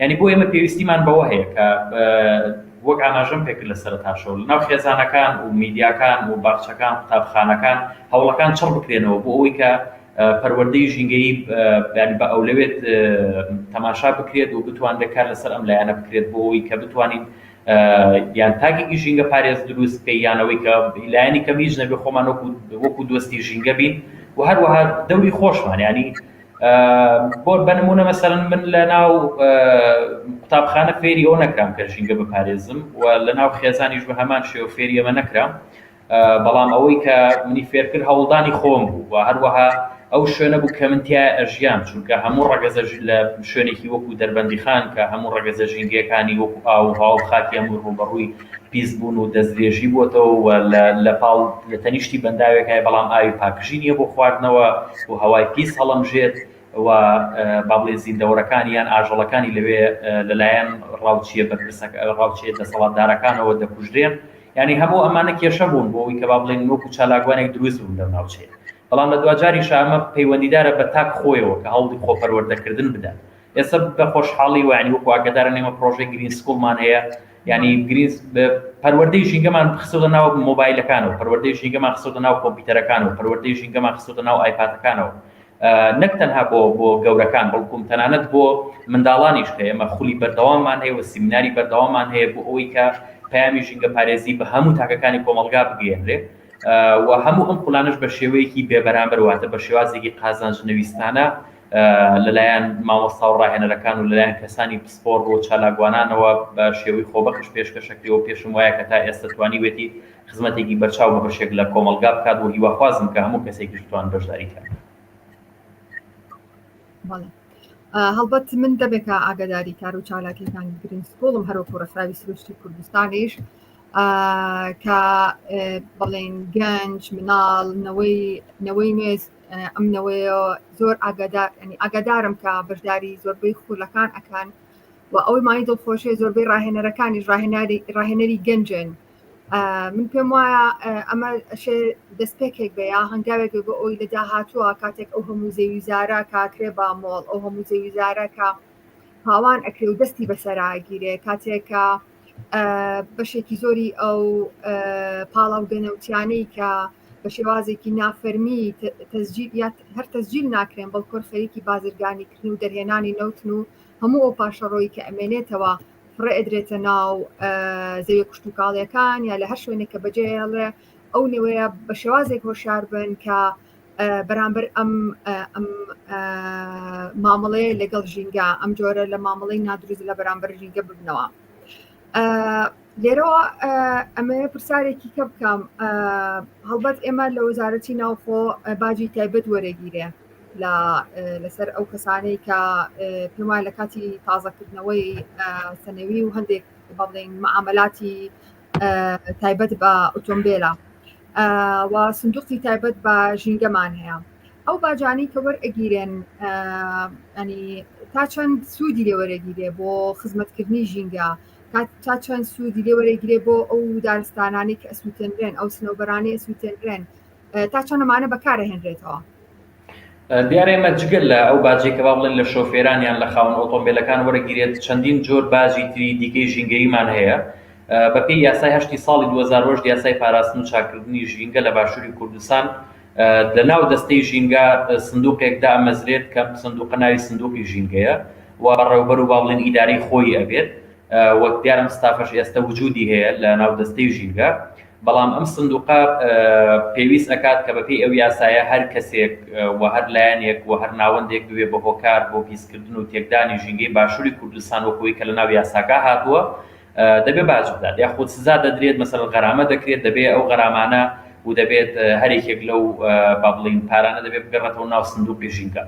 یانی بۆ ئێمە پێویستیمان بەوە هەیە کە وەک ئاماژەم پێکرد لە سەرەتاشەوە لەناو خێزانەکان و میدیاکان و باخچەکان قوتابخانەکان هەوڵەکان چڕ بکرێنەوە بۆ ئەوەی کە پەروەردەی ژینگەیی ینی بە ئەولەوێت تەماشا بکرێت و بتوان دەکار لەسەر ئەم لایەنە بکرێت بۆ ئەوی کە بتوانین یان تاکێکی ژینگە پارێز دروست بکە یانەوەی کە لایەنی کەم هیچ نەبێ خۆمان وەکو دۆستی ژینگە بین و هەروەها دەوری خۆشمان ینی بۆ بە نموونە مەسەلەن من لە ناو قوتابخانە فێری ئەوە نەکرام کە ژینگە بپارێزم و لە ناو خێزانیش بە هەمان شێوە فێری ئەمە نەکرام بەڵام ئەوەی کە منی فێرکرد هەوڵدانی خۆم بوو و هەروەها ئەو شوێنە بوو کە من تیا ئەژیان چونکە هەموو ڕەگەزە لە شوێنێکی وەکو دەربەندیخان کە هەموو ڕەگەزە ژینگەکانی وەکو ئاو هاو خاکی هەموو ڕووبەڕووی پیس بوون و دەستدرێژی بۆتەوە و لە لە پاڵ لە تەنیشتی بەنداوێکای بەڵام ئاوی پاکژی نیە بۆ خواردنەوە و هەوای پیس هەڵەمژێت و با بڵێین زیندەوەرەکانی یان ئاژەڵەکانی لەوێ لە لایەن ڕاوچیە بەرپرسەک ڕاوچیە دەسەڵاتدارەکانەوە دەکوژرێن یانی هەموو ئەمانە کێشە بوون بۆ ئەوی کە با بڵێین وەکو چالاکوانێک دروست بوون لەو ناوچەیە بەڵام لە دواجاریشە ئەمە پەیوەندیدارە بە تاک خۆیەوە کە هەوڵی خۆپەروەردەکردن بدات ئێستا بە خۆشحاڵی و یانی وەکو ئاگادارن ئێمە پڕۆژەی گرین سکوڵمان هەیە یانی گرینس پەروەردەی ژینگەمان خستۆتە ناو مۆبایلەکانەوە پەروەردەی ژینگەمان خستۆتە ناو کۆمپیوتەرەکانەوە پەروەردەی ژینگەمان خستۆتە ناو ئایپاتەکانەوە نەک تەنها بۆ بۆ گەورەکان بەڵکوم تەنانەت بۆ منداڵانیش کە ئێمە خولی بەردەوامان هەیە و سیمیناری بەردەوامان هەیە بۆ ئەوەی کە پامی ژینگە پارێزی بە هەموو تاکەکانی کۆمەلگا بگەێنرێ و هەموو ئەم قولانش بە شێوەیەکی بێبەرامبەر واتە بە شێوازێکی قازانج نەویستانە لەلایەن مامۆستا و ڕاهێنەرەکان و لەلایەن کەسانی پسپۆڕ و چالاکوانانەوە بە شێوەی خۆبەخش پێشکەشەکری و پێشم وایە کە تا ئێستە توانیوێتی خزمەتێکی بەرچاو بە بەشێک لە کۆمەڵگا بکات و هیواخوازم کە هەموو کەسێکیش بتوان بەشداری کات. هەڵبەت من دەبێکە ئاگاداری کار و چالاکیەکانی گرین سکوڵم هەروەکو ڕێکخراوی سروشتی کوردستانیش کە بەڵێن گەنج مناڵ نەوەی نەوەی نوێست ئەم نەوەیە زۆر ئاگادار ینی ئاگادارم کە بەشداری زۆربەی خولەکان ئەکان و ئەوەی مای دڵخۆشێ زۆربەی ڕاهێنەرەکانی ڕاهێناری ڕاهێنەری گەنجێن من پێم وایە ئەمە ئەشێ دەستپێکێک بە یا هەنگاوێک بۆ ئەوی لە داهاتووە کاتێک ئەو هەموو زێویزارە کاکرێ با مۆڵ ئەو هەموو زێویزارەکە پاوان ئەکرێ و دەستی بەسەراگیرێ کاتێکە بەشێکی زۆری ئەو پاڵاو دەنەوتیانەی کە بە شێوازێکی نافەرمی تەزجیل یا هەر تەزجیل ناکرێن بەڵکۆر خەریکی بازرگانی کردن و دەرهێنانی نەوتن و هەموو ئەو پاشەڕۆی کە ئەمێنێتەوە فڕێ ئەدرێتە ناو زەوی کوشتتوکاڵیەکان یا لە هەر شوێنێک کە بەجێڵێ ئەو نوێە بە شێوازێک هۆشار بن کە بەرامبەر ئەم ئەم مامەڵەیە لەگەڵ ژینگە ئەم جۆرە لە مامەڵی نادروست لە بەرامبەر ژینگە ببنەوە لێرەوە ئەمە پرسیارێکی کە بکەم هەڵبەت ئێمە لە وەزارەتی ناوخۆ باجی تایبەت وەرەگیرێ لەسەر ئەو کەسانەی کە پێمان لە کاتی تازەکردنەوەی سەنەوی و هەندێک بڵین معاملاتی تایبەت بە ئۆتۆمبیلە و سندوقی تایبەت بە ژینگەمان هەیە ئەو باجانەی کە وەرئەگیرێن ئەنی تا چەند سوودی لێ وەرەگیرێ بۆ خزمەتکردنی ژینگە تا چەند سوودی لێ وەرەگیرێ بۆ ئەو دارستانانی کە ئەسووتێنرێن ئەو سنەوبەرانی ئەسووتێنرێن تا چۆن ئەمانە بەکارەهێنرێتەوە دیارە ئمە جگە لە ئەو باجێکە با بڵێن لە شۆفێرانیان لە خاون ئۆتۆمبیلەکان وەرەگیرێت چەندین جۆر باجی تری دیکەی ژینگەیمان هەیە بەپی یاسای هەشتی ساڵی 2010 یاسای پاراستن و چاکردنی ژینگە لە باشووری کوردستان لە ناو دەستەی ژینگە سندوقێک دامەزرێت کە سندوقە ناوی سندوقی ژینگەیە و ڕێوبەر و باڵێن ئیداری خۆی ئەبێت وەک دیارم ستافش ئێستا وجودی هەیە لە ناو دەستەی ژینگە بەڵام ئەم سندوقە پێویست ئەکات کە بەپێی ئەو یاسایە هەر کەسێک و هەر لایەنێک و هەر ناوەندێک ببێ بە هۆکار بۆ پیسکردن و تێکدانی ژینگەی باشوری کوردستان وەکو ئەوی کە لە ناو یاساکە هاتووە دەبێ باج بدات یاخود سزا دەدرێت مەسەلەن غەرامە دەکرێت دەبێ ئەو غەرامانە و دەبێت هەر یەکێک لەو با بڵێین پارانە دەبێ بگەڕێتەوە ناو سندوقی ژینگە.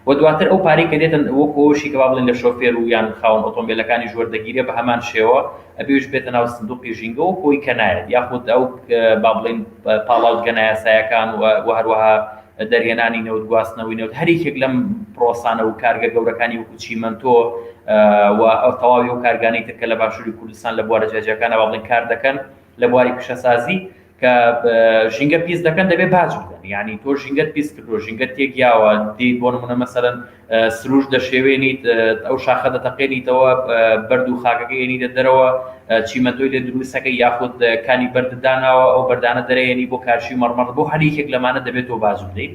و دواتر ئەو پارەی کە دێتە وەکو ئەوەشی کە با بڵێین لە شۆفێر و یان خاوەن ئۆتۆمبێلەکانیش وەردەگیرێ بە هەمان شێوە ئەبێ ئەویش بێتە ناو سندوقی ژینگە وەکو ئەوی کە نایەت یاخود ئەو با بڵێین پاڵاوتگە نایاسایەکان و هەروەها دەرهێنانی نەوت گواستنەوەی نەوت هەر یەکێک لەم پرۆسانە و کارگە گەورەکانی وەکو چیمەنتۆ و ئەو تەواوی ئەو کارگانەی تر کە لە باشووری کوردستان لە بوارە جیاجیاکانە با بڵێین کار دەکەن لە بواری پیشەسازی کە ژینگە پیس دەکەن دەبێ باج بدەن یعنی تۆ ژینگەت پیس کردووە ژینگەت تێک یاوە دێیت بۆ نمونە مەسەرەن سروش دەشێوێنیت ئەو شاخە دەتەقێنیتەوە بەرد و خاکەکە ێنیدە دەرەوە چیمەندۆی لێ دروستەکە یاخود کانی بەردداناوە ئەو بەردانە دەرەێنی بۆ کارشی مەڕمەڕ بۆ هەریەکێک لەمانە دەبێت تۆ باج بدەیت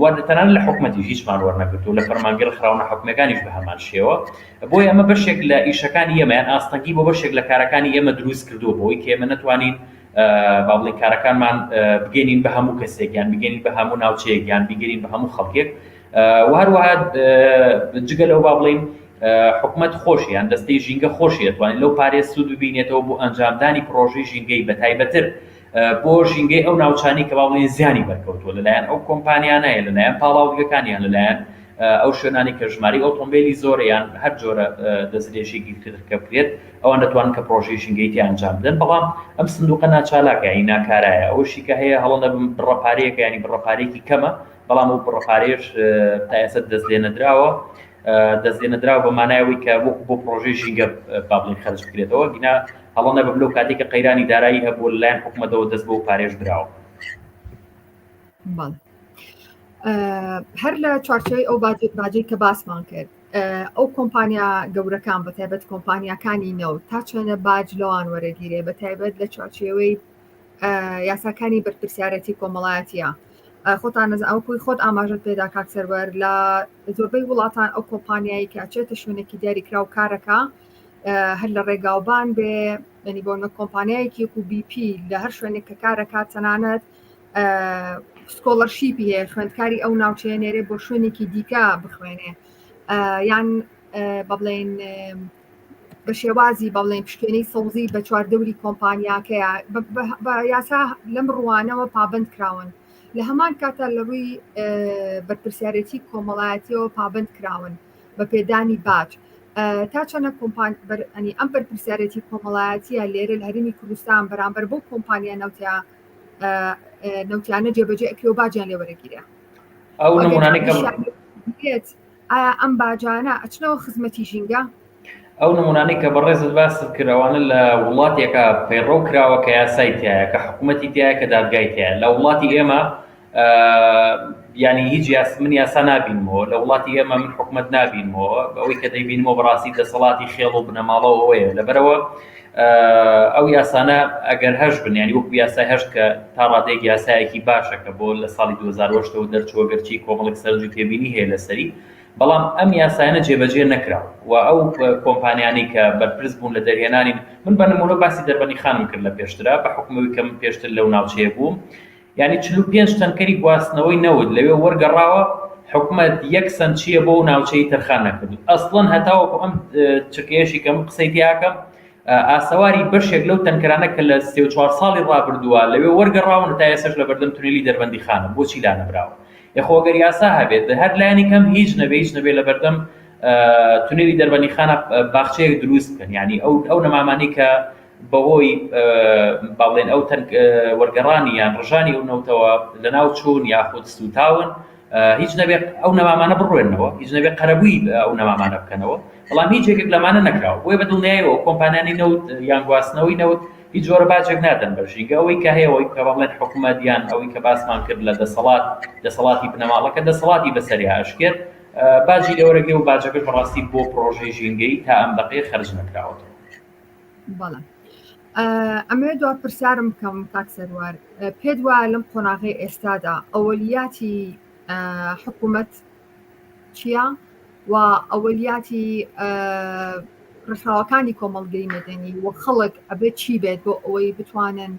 و تەنانەت لە حکومەتیش هیچمان وەرنەگرتووە، لە فەرمانگەی ڕێکخراوە ناحکومییەکانیش بە هەمان شێوە، بۆیە ئەمە بەشێک لە ئیشەکانی ئێمە یان ئاستەنگی بۆ بەشێک لە کارەکانی ئێمە دروست کردووە بەوەی کە ئێمە نەتوانین با بڵێین کارەکانمان بگەینین بە هەموو کەسێک یان بگەینین بە هەموو ناوچەیەک یان بیگەینین بە هەموو خەڵکێک و هەروەها جگە لەوە با بڵێین حکومت خۆش یان دەستەی ژینگە خۆشی دەتوانین لەو پارێز سوود ببینێتەوە بۆ ئەنجامدانی پرۆژەی ژینگەی بە تایبەتر بۆ ژینگەی ئەو ناوچانەی کە با بڵێین زیانی بەرکەوتووە لەلایەن ئەو کۆمپانیانە یان لەلایەن پاڵاوگەکان یان لەلایەن ئەو شوێنانەی کە ژمارەی ئۆتۆمبێلی زۆرە یان هەر جۆرە دەستدرێژیەکی تر کە بکرێت ئەوان دەتوانن کە پڕۆژەی ژینگەی تێ ئەنجام بدەن بەڵام ئەم سندوقە ناچالاکە یانی ناکارایە ئەوەشی کە هەیە هەڵە نەبم بڕە پارەیەکە ینی بڕە پارێکی کەمە بەڵام ئەو بڕە پارێش تا ئێستا دەست لێ نەدراوە دەستێنەدراو بە مانای ئەوەی کە وەکو بۆ پرۆژەی ژینگە بابلین خەرج بکرێتەوە گینا هەڵە نەبم لەو کاتێک کە قەیرانی دارایی هەبوو لەلایەن حکوومەتەوە دەست بۆ پارێژ دراوە هەر لە چوارچەوەی ئەو باجێت باجەی کە باسمان کرد ئەو کۆمپانیا گەورەکان بە تایبەت کۆمپانیاکانی نەوت تا چێنە باج لەوان وەرەگیرێ بە تایبەت لە چوارچێوەی یاساکانی بەرپرسیارەتی کۆمەڵایەتە خۆتان نەز ئەو کوی خۆت ئاماژت پێدا کاک سەروەر لە زۆربەی وڵاتان ئەو کۆمپانیایی کە ئەچێتە شوێنێکی دیاریکراو کارەکە هەر لە ڕێگاوبان بێ یعنی بۆ نە کۆمپانیایەکی و BP لە هەر شوێنێک کە کارەکە تەنانەت سکۆڵەرشیپی هەیە خوێندکاری ئەو ناوچەیە نێرێ بۆ شوێنێکی دیکە بخوێنێ یان بەڵێن بە شێوازی بەڵێن پشکێنەی سەوزی بە چواردەوری کۆمپانیاکەیە بە یاسا لەم ڕوانەوە پابند کراون لە هەمان کاتدا لە ڕووی بەرپرسیارێتی کۆمەڵایەتیەوە پابند کراون بە پێدانی باج تا چەنە کۆمپان بەرئەنی ئەم بەرپرسیارەتی کۆمەڵایەتە لێرە لە هەرمی کوردستان بەرامبەر بۆ کۆمپانیا نەوتیا نەوتیانە جێبەجێ ئەکرێ و باجیان لێ وەرەگیرە ئەو نمونانەی ئایا ئەم باجانە ئەچنەوە خزمەتی ژینگە؟ ئەو نمونانەی کە بەڕێزت باست کرد ئەوانە لە وڵاتێکە پەیڕەو کراوە کە یاسای تایە کە حکوومەتی تایە کە دادگای تایە لە وڵاتی ئێمە ینی هیچ یاس من یاسا نبینمەوە لە وڵاتی ئێمە من حکوومەت نبینمەوە بەوەی کە دەیبینمەوە بەڕاستی دەسەڵاتی خێڵ و بنەماڵەوەەیە لەبەرەوە ئەو یاسانە ئەگەر هەش بن ینی وەکو یاسای هەشت کە تا ڕادێک یاسایەکی باشە کە بۆ لە ساڵی 2010ەوە دەرچووە گەرچی کۆمەڵک سەرنج و تێبینی هەیە لەسەری بەڵام ئەم یاسایانە جێبەجێ نەکرا و ئەو کۆمپانیانی کە بەرپرس بوون لە دەرهێنانی من بە نمونە باسی دەربەنی خانم کرد لە پێشترا بە حکومەوی کەم پێشتر لەو ناوچەیە بووم یانی چل و پێنج تەنکەری گواستنەوەی نەوت لەوێ وەرگەڕاوە، حکومەت یەک سەنت چییە بۆ ئەو ناوچەی تەرخان نەکردوو، ئەسڵەن هەتاوەکو ئەم چرکەیەشی کە من قسەی تێیاکەم ئاسەواری بەشێک لەو تەنکەرانە کە لە سێ و چوار ساڵی ڕابردووە لەوێ وەرگەڕاون و تا ئێسەش لەبەردەم تونێلی دەربەندیخانن بۆچی لانەبراوە؟ یەخۆ گەر یاسا هەبێت هەر لانی کەم هیچ نەبێ هیچ نەبێ لەبەردەم تونێلی دەربەندیخانە باخچەیەک درووست بکەن یانی ئەو نەمامانەی کە بەهۆی با بڵێین ئەو تەنگ وەرگەڕانی یان ڕژانی ئەو نەوتەوە لەناو چوون یاخود سووتاون، هیچ نەبێ ئەو نەمامانە بڕوێنەوە، هیچ نەبێ قەرەبووی ئەو نەمامانە بکەنەوە، بەڵام هیچ یەکێک لەمانە نەکراوە، بۆیە بە دڵنیایەوە ئەو کۆمپانیانەی نەوت یان گواستنەوەی نەوت هیچ جۆرە باجێک نادەن بە ژینگە، ئەوەی کە هەیە ئەوەی کە با بڵێن حکومەت یان ئەوەی کە باسمان کرد لە دەسەڵات، دەسەڵاتی بنەماڵەکە دەسەڵاتی بەسەریا ئەشکێت، باجی لێوەرەگرێ و باجەکەش بەڕاستی بۆ پڕۆژەی ژینگەیی تا ئەم دەقەیە خەرج نەکراوەتەوە. بەڵێ ئەمەوێت دو پرسیارم بکەم کاک سەروار پێت وا لەم قۆناغی ئێستادا ئەوەلیاتی حکوومەت چییە و ئەوەلیاتی ڕێکخراوەکانی کۆمەڵگەی مەدەنی و خەڵک ئەبێت چی بێت بۆ ئەوەی بتوانن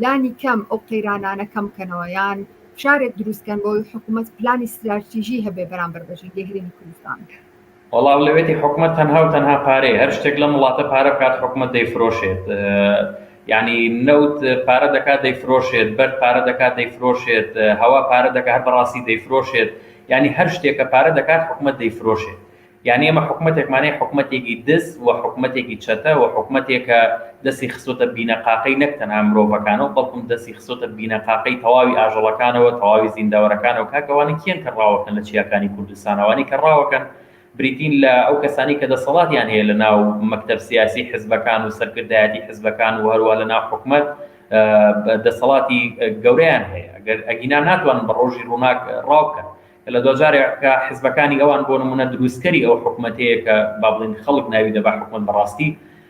لانی کەم ئەو قەیرانانە کەم بکەنەوە یان شارێک دروستکەن بۆی حکوومەت پلانی ستراتیژی هەبێ بەرامبەر بەژنگەی هەرێمی کوردستان وەڵا ئەولەوێتی حکومەت تەنها و تەنها پارەیە هەر شتێک لەم وڵاتە پارە بکات حکومەت دەیفرۆشێت یعنی نەوت پارە دەکات دەیفرۆشێت بەر پارە دەکات دەیفرۆشێت هەوا پارە دەکات هەر بەڕاستی دەیفرۆشێت یعنی هەر شتێکە پارە دەکات حکومەت دەیفرۆشێت یعنی ئەمە حکومەتێکمانەیە حکومەتێکی دز و حکومەتێکی چەتە و حکومەتێکە دەستی خستۆتە بینەقاقەی نەک تەنها مرۆڤەکانەوە بەڵکم دەستی خستۆتە بینەقاقەی تەواوی ئاژەڵەکانەوە تەواوی زیندەوەرەکانەوە کاکە ئەوانە کێن کە ڕاوەکەن لە چیاکانی کوردستان ئەوانەی کە ڕاوەکەن بریتین لە ئەو کەسانەی کە دەسەڵاتیان هەیە لە ناو مەکتەب سیاسی حزبەکان و سەرکردایەتی حزبەکان و هەروە لە ناو حکومەت دەسەڵاتی گەورەیان هەیە ئەگەر ئەگینا ناتوانن بە ڕۆژی ڕووناک ڕاو بکەن لە دواجارێک کە حزبەکانی ئەوان بۆ نمونە دروستکەری ئەو حکومەتەیە کە با بڵین خەڵک ناوی دەبا حکومەت بەڕاستی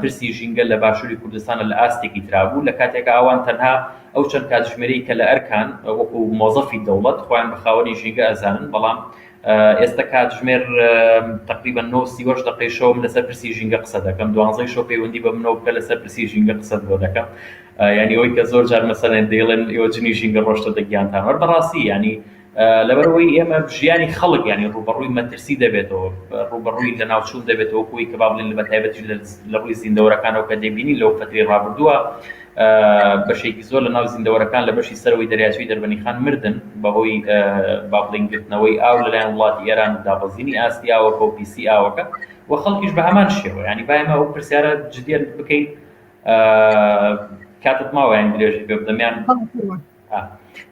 پرسی ژینگە لە باشوری کوردستان لە ئاستێکی ترا بوو، لە کاتێکا ئەوان تەنها ئەو چەند کاتژمێرەی کە لە ئەرکان وەکو مۆزەفی دەوڵەت خۆیان بە خاوەنی ژینگە ئەزانن، بەڵام ئێستە کاتژمێر تەقریبەن نۆ و سی و هەشت دەقەی شەوە من لەسەر پرسی ژینگە قسە دەکەم، دوانزەی شەو پەیوەندی بە منەوە بکە لەسەر پرسی ژینگە قسەت بۆ دەکەم، یانی ئەوەی کە زۆر جار مەسەلەن دەیڵێن ئێوە جنی ژینگە ڕۆشتۆتە گیانتان وەر بەڕاستی یانی، لەبەرئەوەی ئێمە ژیانی خەڵک یانی ڕووبەڕووی مەترسی دەبێتەوە، ڕووبەڕووی لەناوچوون دەبێتەوە وەکو ئەوەی کە با بڵێین بە تایبەتیش لە ڕووی زیندەوەرەکانەوە کە دەبینین لەو فەترەی ڕابردووە بەشێکی زۆر لە ناو زیندەوەرەکان لە بەشی سەرەوەی دەریاچەی دەربەنیخان مردن بەهۆی با بڵێین گرتنەوەی ئاو لەلایەن وڵاتی ئێران و دابەزینی ئاستی ئاوەکە و پیسی ئاوەکە و خەڵکیش بە هەمان شێوە یانی با ئێمە ئەو پرسیارە جدیت بکەین کاتت ماوە یانی درێژت پێ بدەم یان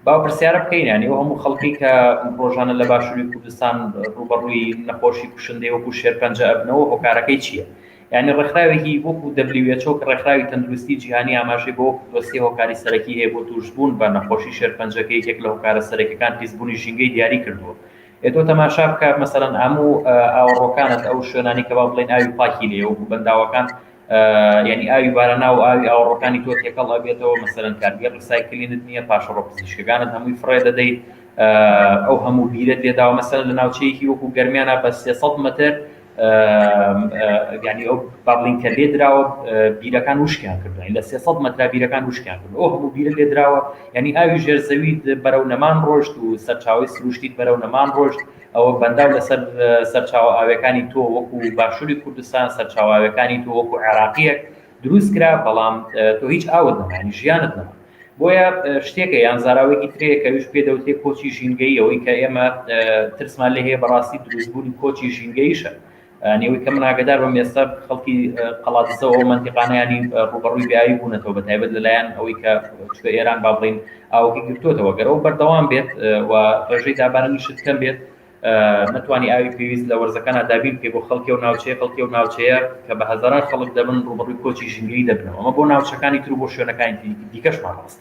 با پرسیارە بکەین یانی ئەو هەموو خەڵکی کە ڕۆژانە لە باشووری کوردستان ڕوبەڕووی نەخۆشی کوشندەی وەکو شێرپەنجە ئەبنەوە هۆکارەکەی چییە یعنی ڕێکخراوێکی وەکو دەبلیوێچۆ کە ڕێکخراوی تەندروستی جیهانی ئاماژەی بۆ دۆسیە هۆکاری سەرەکی هەیە بۆ تووشبوون بە نەخۆشی شێرپەنجەکە یەکێک لە هۆکارە سەرەکەکان پیسبوونی ژینگەی دیاری کردووە ئێتۆ تەماشا بکە مەسەرەن ئامو ئاوەڕۆکانت ئەو شوێنانی کە با بڵێن ئاوی پاکی لێ وەکو بەنداوەکان یانی ئاوی باراناو و ئاوی ئاوەڕۆکانی تۆ تێکەڵ ئەبێتەوە مەسەلەن کارگەی ڕیسایکلینت نیە پاشەڕۆ پزیشکەکانت هەمووی فڕێ دەدەیت ئەو هەموو بیرە تێداوە مەسەلەن لە ناوچەیەکی وەکو گەرمیانە بە سێ سەد مەتر یانی ئەو بابلین کە لێ دراوە بیرەکان وشکیان کردوین لە سێ سەد مەترا بیرەکان وشکیان کرد ئەو هەموو بیرە لێ دراوە یانی ئاوی ژێر زەویت بەرەو نەمان ڕۆشت و سەرچاوی سروشتیت بەرەو نەمان ڕۆشت ئەوە بەنداو لەسەر سەرچاوە ئاویەکانی تۆ وەکو باشووری کوردستان سەرچاوە ئاویەکانی تۆ وەکو عێراقیەک دروست کرا بەڵام تۆ هیچ ئاوت نەمانی ژیانت نەما بۆیە شتێکە یان زاراوێکی ترەیە کەویش پێ دەوتێ کۆچی ژینگەیەوەی کە ئێمە ترسمان لێ هەیە بەڕاستی دروستبوونی کۆچی ژینگەیشە نیوەی کە من ئاگەدار بم ئێستا خەڵکی قەڵادزە و مەنتیقانەیانی ڕوبەڕووی بیاوی بوونەتەوە بە تایبەت لەلایەن ئەوەی کە چکە ئێران با بڵین ئاوەکەی گرتوتەوە گەرەوە بەردەوام بێت و ڕێژەی دابارانی شت کەم بێت نتوانانی ئاوی پێویست لە وەرزەکان دابین بکە بۆ خەڵکی و ناوچەیە خەڵکی و ناوچەیە کە بە هەزاران خەڵک دەبن ڕوبەڕووی کۆچی ژنگلی دەبنەوە ئەمە بۆ ناوچەکانی تر بۆ شوێنەکانی دیکەشمان ڕاست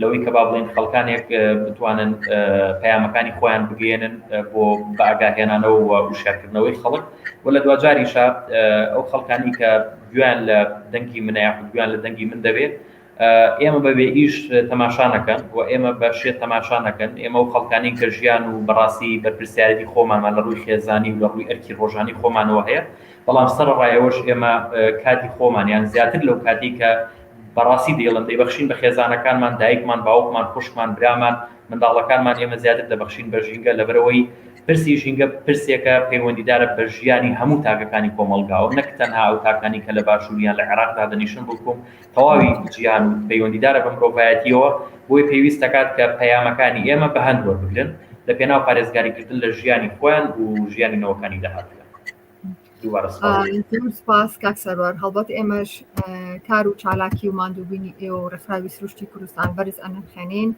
لەوەی کە با بڵێین خەڵکانێک بتوانن پەیامەکانی خۆیان بگەێنن بۆ بەئاگاهێنانەوە و وشارکردنەوەی خەڵک و لە دواجاریشە ئەو خەڵکانی کە گویان لە دەنگی منە یاخود گویان لە دەنگی من دەبێت ئێمە بەبێ ئیش تەماشانەکەن و ئێمە بە شێت تەماشانەکەن ئێمە و خەڵکانی کە ژیان و بەڕاستی بەرپرسیارەتی خۆمانمان لە ڕووی خێزانی و لە ڕووی ئەرکی ڕۆژانی خۆمانەوە هەیە بەڵام سەر ڕایەوەش ئێمە کاتی خۆمانیان زیاتر لەو کاتی کە بەڕاستی دەیڵێم دەیبەخشین بە خێزانەکانمان، دایکمان، باوکمان، خوشکمان، برامان، منداڵەکانمان، ئێمە زیاتر دەبەخشین بە ژینگە لەبەرئەوەی پرسی ژینگە پرسێکە پەیوەندیدارە بە ژیانی هەموو تاکەکانی کۆمەڵگاوە نەک تەنها ئەو تاکانەی کە لە باشوور یان لە عێراق دادەنیشن بڵکو تەواوی جیهان و پەیوەندیدارە بە مرۆڤایەتیەوە بۆیە پێویست دەکات کە پەیامەکانی ئێمە بەهەند وەربگرن لە پێناو پارێزگاریکردن لە ژیانی خۆیان و ژیانی نەوەکانی داهاتوویان. سپاس کاک سەروار هەڵبەت ئێمەش کار و چالاکی و مادووبینی ئێ و ڕێکخراوی سروشتی کوردستان بەرز ئەنرخێنین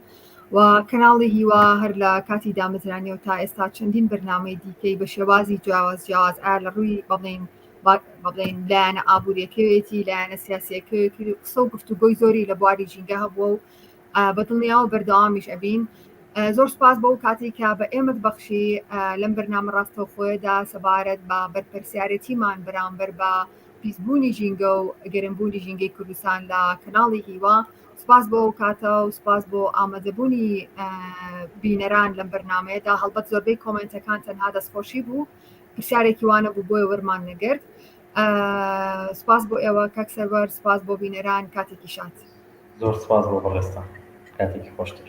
و کەناڵی هیوا هەر لە کاتی دامەزرانی و تا ئێستا چەندین بەرنامەی دیکەی بە شێوازی جیاواز جیاواز ئا لە ڕووی بەڵین بڵێن لایەنە ئابوووریەکەوێتی لایەنە سیاسەکەوێتی قسە و گفتوگۆی زۆری لە بواری ژینگە هەبووە و بە دڵنیاوە بەردەوامیش ئەبین. زۆر سوپاس بۆ ئەو کاتەی کە بە ئێمەت بەخشی لەم بەرنامە ڕاستەوخۆیەدا سەبارەت بە بەرپرسیارێتیمان بەرامبەر بە پیسبوونی ژینگە و گەرمبوونی ژینگەی کوردستان لە کەناڵی هیوا. سوپاس بۆ ئەو کاتە و سوپاس بۆ ئامادەبوونی بینەران لەم بەرنامەیەدا هەڵبەت زۆربەی کۆمێنتەکان تەنها دەستخۆشی بوو پرسیارێکی وانە بوو بۆیە وەرمان نەگرت. سوپاس بۆ ئێوە کاک سەروەر سوپاس بۆ بینەران کاتێکی شاد. زۆر سپاس بۆ بەڕێزتان کاتێکی خۆشتر.